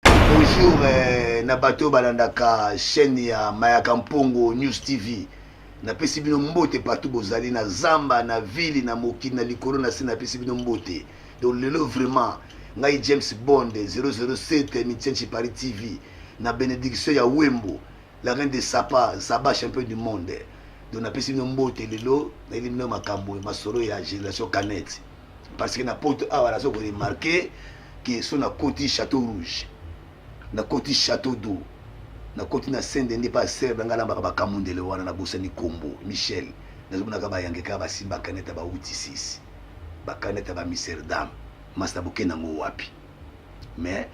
Bonjour eh, na bato oyo balandaka chaîne ya Mayaka Mpongo News TV. Napesi bino mbote partout bozali na zamba, na ville, na mokili, na likolo, na se napesi bino mbote. Donc lelo vraiment ngai James Bond 007 Mitienchi Paris TV na benediction ya Wembo la reine de Sapa, Zaba champion du monde. Donc napesi bino mbote lelo nayeli bino makambo masolo ya génération Canette. parce que na poto awa naza ko remarquer que so na koti château rouge na koti château d'eau na koti na sende nde pa serbe ngai nambaka bakamundele wana na bosani kombo michel nazomonaka bayangeka basimba kaneta bauti sisi bakaneta bamiserdame masta boke nango wapi mais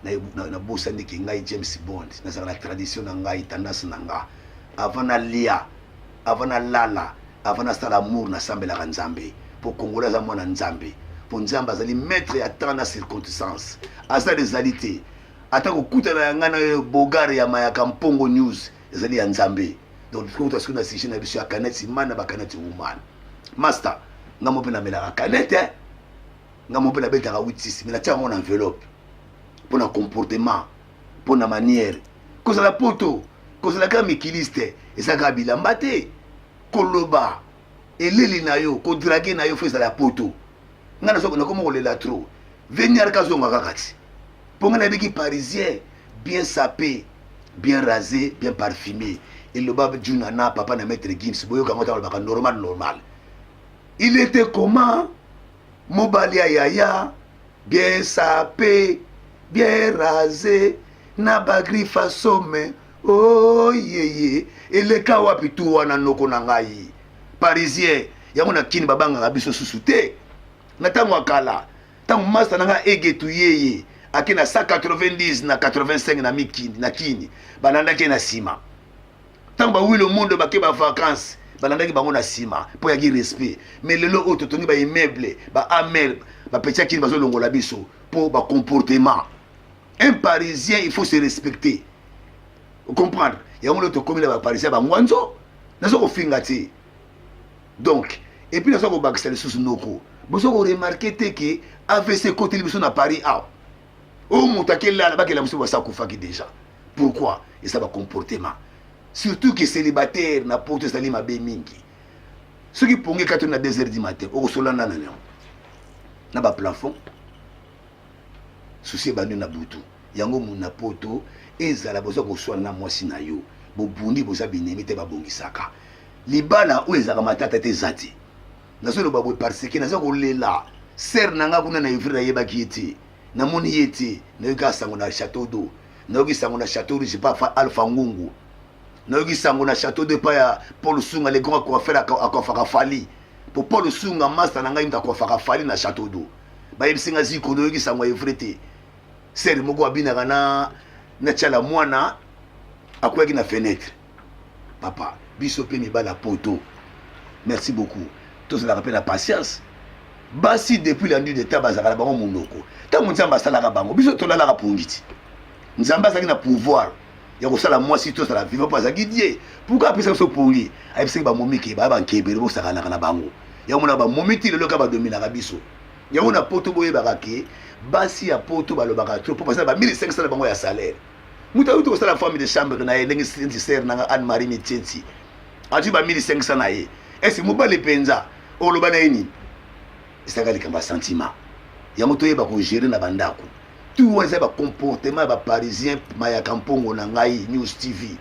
nabosani ke ngai james bond nazalaka na tradition na ngai tendance na nga avant nalia avant nalala avant nasala amour nasambelaka nzambe mpo kongola aza mwana nzambe mpo nzambe azali maître ya temps na circonstance aza ezali te ata kokutana ya ngai na bogare ya mayaka mpongo news ezali ya nzambe donc tokota soki na sujet na biso ya kaneti man na bakaneti woman master ngai mo mpe namelaka kanete eh? nga moko mpe nabetaka 86 me natiaka yango na enveloppe mpo na comportement mpo na manière kozala poto kozala kaka mikiliste eza kaka bilamba te koloba eleli na yo kodrage na yo fo ezala ya poto ngai nakomi kolela trop veniar kazonga kaka ti mpo ngai nayebiki parisien bien sape bien rasé bien parfumé eloba juna na papa na maître gims boyoka yango ntango alobaka normal normal il était comment Mobali ya yaya bien sape bien rase na bagrifa some oyeye oh, eleka wapi tu wana noko na ngai parisien yango na kini babangaka biso susu te na ntango ya kala ntango masta na ngai egetu yeye ake na 190 na 85 na mikini na kini balandaki ye na nsima ntango bawi lomondo bake bavacance balandaki bango na nsima mpo yaki respect mais lelo oyo totongi baimmeuble baamel bapetiakini bazolongola biso mpo bacomportement un parisien il faut se respecter ocomprendre yango nde tokomi na baparisien bangwanzo naza kofinga te donc epuis naza kobakisa lisusu noko boza koremarke te ke avc ekoteli biso na paris awa oyo moto akelala bakela mosusu basi akufaki déjà pourquoi eza bacomportement surtout ke célibataire na poto ezali mabe mingi soki pongi ekati na 2 heures du matin okosola nana na yango na baplafond susi ebandi na butu yango na poto ezala boza koswana na mwasi na yo bobundi boza binemi te babongisaka libala oyo ezalaka matata te eza te nazo loba boye parce que naza kolela sere na nga kuna na evre nayebaki ye te namoni ye te nayoki asango na chateau do nayoki sango na chateau rouge pa alpha ngungu nayoki sango na chateau do epai ya paul sunga le grand coiffeur akoafaka fali po paul sunga masta na ngai moto akoafaka fali na chateau do bayebisi nga ziko noyoki sango ya evre te sere moko abinaka na na tiala mwana akweyaki na fenêtre papa biso mpe mibali ya poto merci beaucoup tozalaka mpe na patience basi depuis la nuit de temps bazalaka na bango monoko ntango nzambe asalaka bango biso tolalaka pongi ti nzambe azalaki na pouvoir ya kosala mwasi tozala viva mpo azalaki die pourkui apesa biso pongi ayebisaki bamomike baya bankebele bosakanaka na bango yango na bamomi ti lelo ka badominaka biso yango na poto boyebaka ke basi ya poto balobaka tro mpo bazala bamili esengisa na bango ya salaire moto ayuti kosala femme de chambre na ye ndenge sensi sere na nga anne marie mitsensi azwi ba 1500 na ye esi mobali mpenza oloba na ye nini ezalaka likambo ya sentiment yango toyeba kogere na bandako tout wana eza bacomportement ya baparisien mayaka mpongo na ngai news tv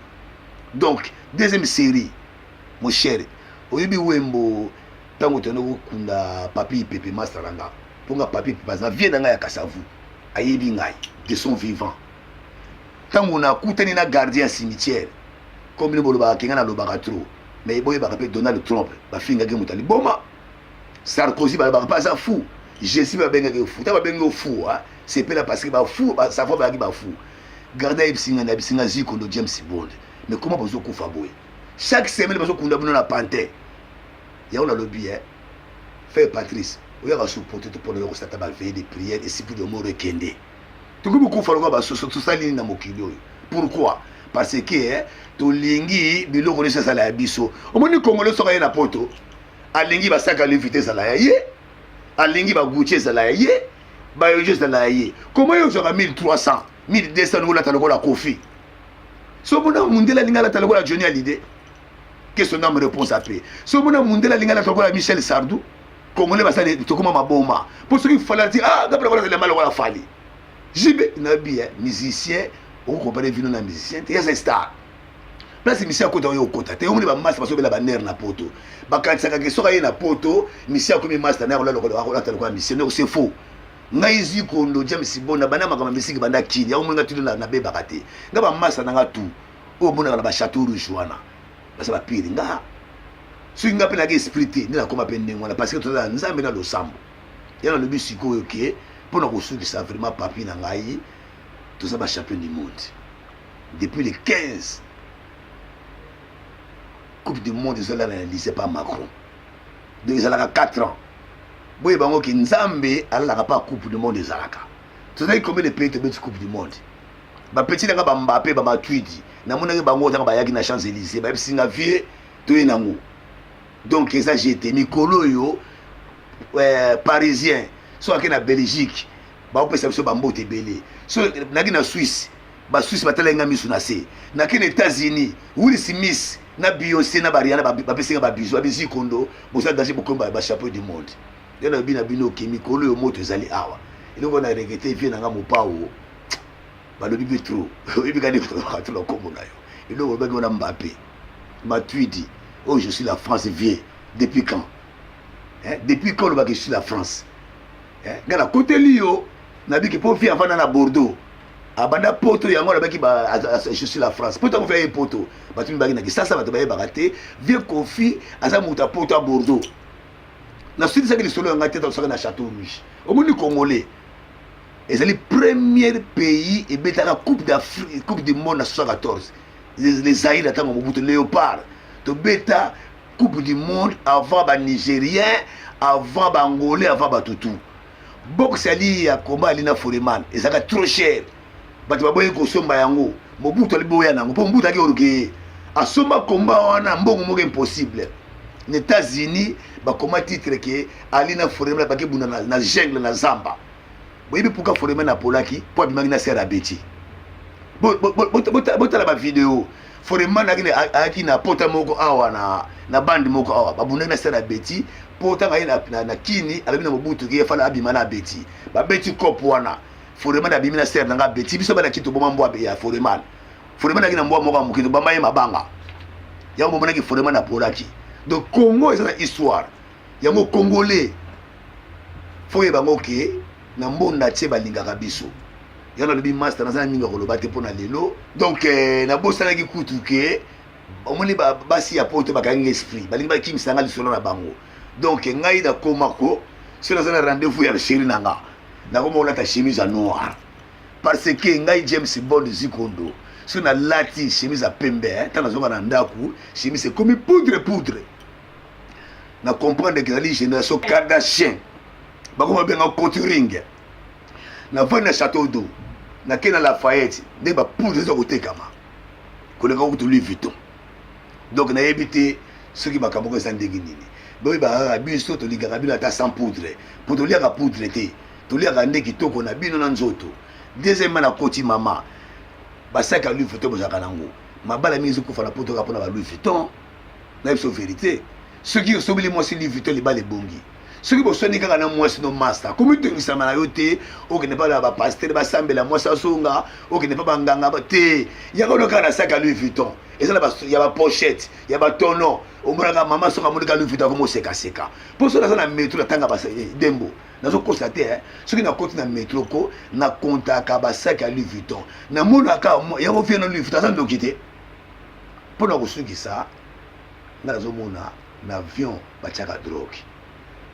donc deuxième série moshere oyebi wembo ntango tende kokunda papi pepe masalanga mpo nga papi baza vie na ngai ya kasavu ayebi ngai de son vivant ntango nakutani na gardien ya cimetière comme bino bolobaka kenga nalobaka trop mais boyebaka mpe donald trump bafingaki moto ya liboma sarkozy balobaka mpe aza fou jésus mpe babengaki yo fou ntango babengi yo fou sepela parce que bafou savo bayaki bafou gardien ayebisi ngai nayebisi ngai zikondo james bond mais koma bozokufa boye chaque semaine bazokunda bino na pantin Yango na lobi eh frère Patrice oyaka sur poto te pona yo kosata ba veille de prière esipi de moro ekende tokomi kufa lokola basusu tosali nini na mokili oyo pourquoi parce que eh, tolingi biloko nyonso ezala ya biso omoni congolais soki aye na poto alingi basaka levite ezala ya ye alingi baguti ezala ya ye bayojo ezala ya ye koma yo ozwaka 1300 1200 olata lokola kofi so mona mondele alingi alata lokola joni alide que son âme repose à paix so mona mundela lingala tokola Michel Sardou congolais basali tokoma maboma po soki fala ti ah gabla wala zela mala wala fali jibe na bien musicien on compare vino na musicien te yasa star place misi akota oyo okota te omoni bamasta basobela banere na poto bakanisaka ke soki aye na poto misi akomi masta na yakolalokolata lokola misi ndeko se faux ngai zikondo james bona banda makambo misiki banda kini yango omoni ngai tutu nabebaka te ngai bamasta na ngai tout oyo omonaka na ba chateau rouge wana baza ba pire nga soki nga mpe naki esprit te nde nakoma mpe ndenge wana parce que tozala nzambe na losambo ya nalobi sikoyo ke mpo na kosukisa vraiment papi na ngai toza ba champion du monde depuis le 15 coupe du monde ezala na elise pa macron donc ezalaka 4 ans boye bango ke nzambe alalaka mpa coupe du monde ezalaka tozalaki combien de pays tobeti coupe du monde ba petit nanga ba Mbappe ba Matuidi na monaki bango nanga bayaki na Champs Élysées ba yebisi nga vie to ye nango donc eza j'étais mikolo yo euh, parisien so ake na Belgique ba opesa biso ba mbote belé so naki na Suisse ba Suisse batala nga misu na se naki na États-Unis Will Smith na Beyoncé na Bariana ba pesi nga ba bisous ba bisous kondo bosa danger bokomba ba chapeau du monde yana bina bino ke mikolo yo moto ezali awa eloko na regretter vie nanga mopao balobi mpe tro oyebi kani kolobaka to na nkombo na yo eloko olobaki wana mbape matuidi oyo oh, je suis la france vieux depuis quand eh? depuis quand olobaki je suis la france eh? nga nakoteli yo nabiki mpo vie avanda na bordeaux abanda poto yango alobaki je suis la france poto akofi aye poto bato mibaki na kisasa bato bayebaka te vieux kofi aza moto ya poto ya bordeaux nasilisaki lisolo ya ngai te tosaka na chateau rouge omoni congolais ezali premier pays ebetaka coupe d'afrique coupe du monde na 74 le zaire atango mobutu léopard tobeta coupe du monde avant banigérien avant baangolais avant batutu box ali ya koma ali na foreman ezalaka trop cher bato baboyi kosomba yango mobutu aliboya na yango mpo mobutu aki orgeye asomba komba wana mbongo moko impossible na états-unis bakoma titre ke ali na foreman bake bunda na, na jungle na zamba boyebi pourquoi foreman apolaki mpo abimaki na sere abeti botala bavideo foreman ayaki na pota moko awa na bande moko awa babundaki na sere abeti mpo ntango aye na kini alobi na mobutu ki efala abima na abeti babeti cope wana foreman abimi na sere na ngai abeti biso bana kito boma mbwa ya foreman foreman ayaki na mbwa moko ya mokito bamba ye mabanga yango bomonaki foreman apolaki donc congo eza na histoire yango congolais fo yeba ngo ke na mbonda tie balingaka biso ya nalobi master naza na mingi ya koloba te mpo na lelo donc eh, nabosanaki kutu ke omoni basi ya poto bakangi esprit balingi bakimisa nga lisolo na bango donc eh, ngai nakoma ko soki naza na rendez-vous ya sheri na nga nakoma kolata chemise ya noir parce que ngai james bond zikondo soki nalati chemise ya pembe ntango eh, nazonga na ndako chemise ekomi poudre poudre na comprendre que ezali génération kardachien bakoma benga coturing na vandi na chateau d'eau nake na lafayette nde bapoudre eza kotekama koleka kutu louis vuitton donc nayebi te soki makambo oko eza ndenge nini boyebaka biso tolingaka bino ata sans poudre mpo toliaka poudre te toliaka nde kitoko na bino na nzoto deuxièmement na koti mama basaki ya louis vuitton bozalaka nango mabala mingi ezikufa na poto kaka mpona ba louis vuitton na biso verite soki osobeli mwasi Louis Vuitton libala ebongi soki boswani kaka na mwasi no masta komitungisama na yo te okende pa na bapastere basambela mwasi azonga okende pa banganga te yaka ono kaka na saki ya louis vuitton eza na ya bapochette ya batono omonaka mama soki amonaka louis vuitton akomosekaseka mpo soki naza na metro natanga eh, dembo nazokosa te eh. soki nakoti na metro ko nakontaka basaki ya louis vuitton namonaka yango vie na louis vuitton aza ndoki te Mpo na kosukisa, nga nazomona na avion batiaka drogue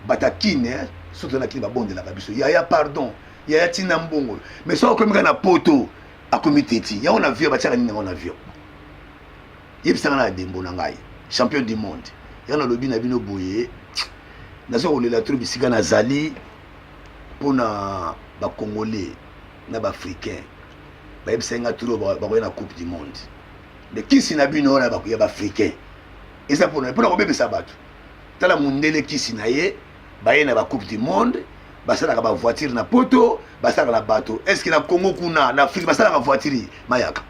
bata kine eh, surtout na kine babondelaka biso yaya pardon yaya tina mbongo mais soki akomi kaka na poto akomi teti yango na avion batiaka nini yango na avion yebisanga na dembo na ngai champion du monde yango nalobi na bino boye naza kolela tro bisika nazali mpo na bacongolais na baafricain bayebisaki nga turo bakoya na coupe du monde de kisi na bino wana ya baafricain eza mpona mpona kobebisa bato tala mundele kisi na ye baye na bacoupe du monde basalaka bavoiture na poto basalaka na bato estce na congo kuna na afrike basalaka voiture mayaka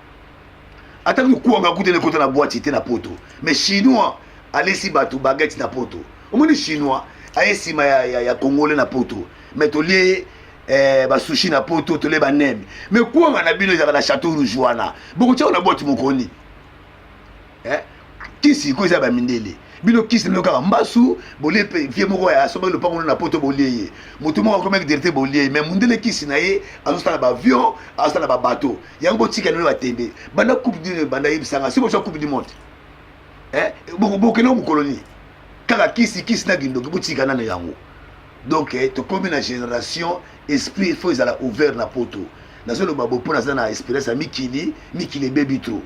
ata kokuanga kute nekota na bwati te na poto mais chinois alesi bato bagete na poto omoni chinois aye nsima ya, ya, ya congolais na poto mais tolie eh, basushi na poto tolie baneme mais kwanga na bino ezaka na chateau rouge wana bokotiako na boite mokoni eh? kisi iko eza bamindele bino kisi bino kaka mbasu bolie mpe vie moko ya soba lopango no na poto bolie ye motu moko akomaki derite bolie ye mai mondele kisi na ye azosala baavion azosala babato yango botika nino batembe banda coupe du banda yebisanga si boswa coupe du monde eh, bokende mokolo nini kaka kisi kisi na kindoki botika nano yango donc eh, tokomi na génération esprit il faut ezala ouvert na poto nazoloba bo mpo naza na expérience ya mikili mikili ebebi trop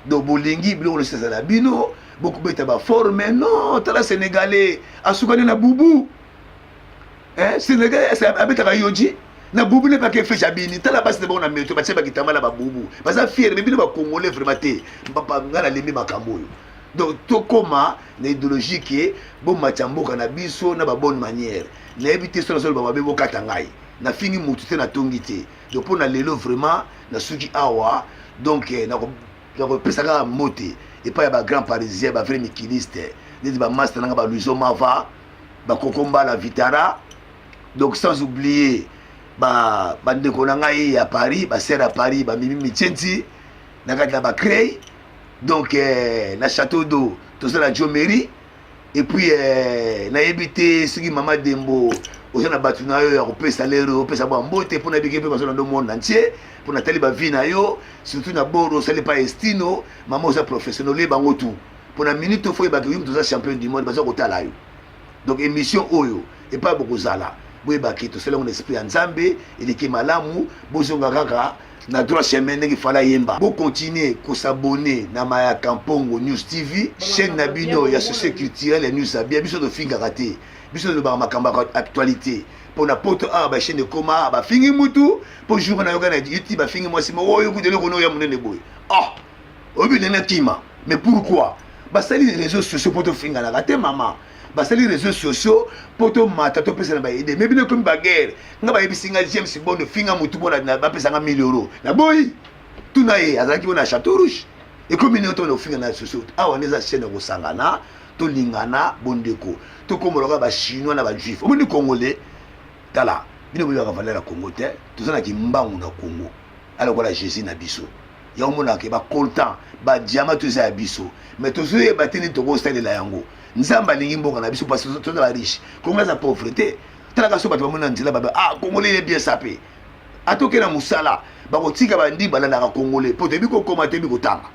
donc bolingi biloko nyonso ezala bino bokobeta baforme non tala sénégalais asukani na bubu eh, sénégalais abetaka yoji na bubu ne pake fecha bini tala basi na bango na meto batie bakitambala babubu baza fiere me bino bacongolais vraiment te ngai nalembi makambo oyo donc tokoma na idéologie ke bomatya mboka na biso na babonne manière nayebi te so nazoloba mabe bokata ngai nafingi motu te natongi te donc mpo na lelo vraiment nasuki awa donc eh, nakopesa kaka mbote epai ya bagrand parisien bavrai mikiliste neti bamasta nanga baluiso mava bakoko mbala vitara donc sans oublier bandeko ba na ngai ya paris basere ya paris bamimi mitienti na kati ya bacrey donc eh, na chateau d'eau toza na jomeri epuis eh, nayebi te soki mama dembo oza na bato na yo ya kopesa lero opesa bwa mbote mpo na bike mpe bazolanda monde entier mpo natali bavi na yo surtout na boro osali pa estino mama oza professionnel olie bango tout mpo na minute ofo ebaki yo moto oza champion du monde baza kotala yo donc émission oyo epai bokozala boyebaki tosalango na esprit ya nzambe eleki malamu bozonga kaka na droit chemin ndenge fala yemba bokontinue kosabone na mayaka mpongo news tv chaîne na bino ya société culturelle ya news abia biso tofingaka te biso tolobaka makambo ya actualité mpo na poto awa bachaine ekoma bafingi mutu mpo jour nayoka na youtube bafingi mwasi moko oyo kutu eloko noya monene boye ah oyebi ndenge nakima mais pourquoi basali les réseaux sociaux mpo tofinganaka te mama basali réseaux sociaux mpo tomata topesana baide me bino ekomi baguerre nga bayebisi nga james bondo finga motu mpo bapesanga 1000 euro naboyi tuna ye azalaki mpo na chateau rouge ekomi ndenge tona kofinga na sociaux awa nde eza chaine ya kosangana tolingana bondeko tokomoloka bachinois na bajuif omoni congolais tala bino boyaka valeur ya congo te toza na kimbangu na congo alokola jésus na biso yango omonaka ke bacoltan badiama to eza ya biso mais tozoyeba te nini tokosalela yango nzambe alingi mboka na biso parce tozala riche kongo aza pauvre te talaka so bato bamoni na nzela babe ah kongole ye bien sape atoke na mosala bakotika bandi balandaka kongole mpo toyebi kokoma toyebi kotanga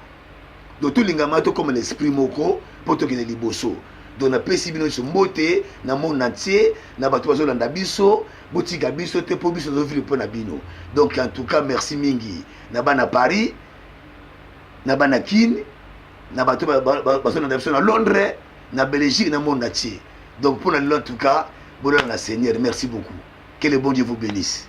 do tolingama tokoma na esprit moko mpo tokende liboso do napesi bino nyonso mbote na monde entier na bato bazolanda biso botika biso te mpo biso tozovivre mpo na bino donc en tout cas merci mingi na bana paris na bana kin na bato bazolanda biso na londres na belgique na monde atie donc mpo na lelo en tout cas bolala na seigneur merci beaucoup que le bon dieu vous bénisse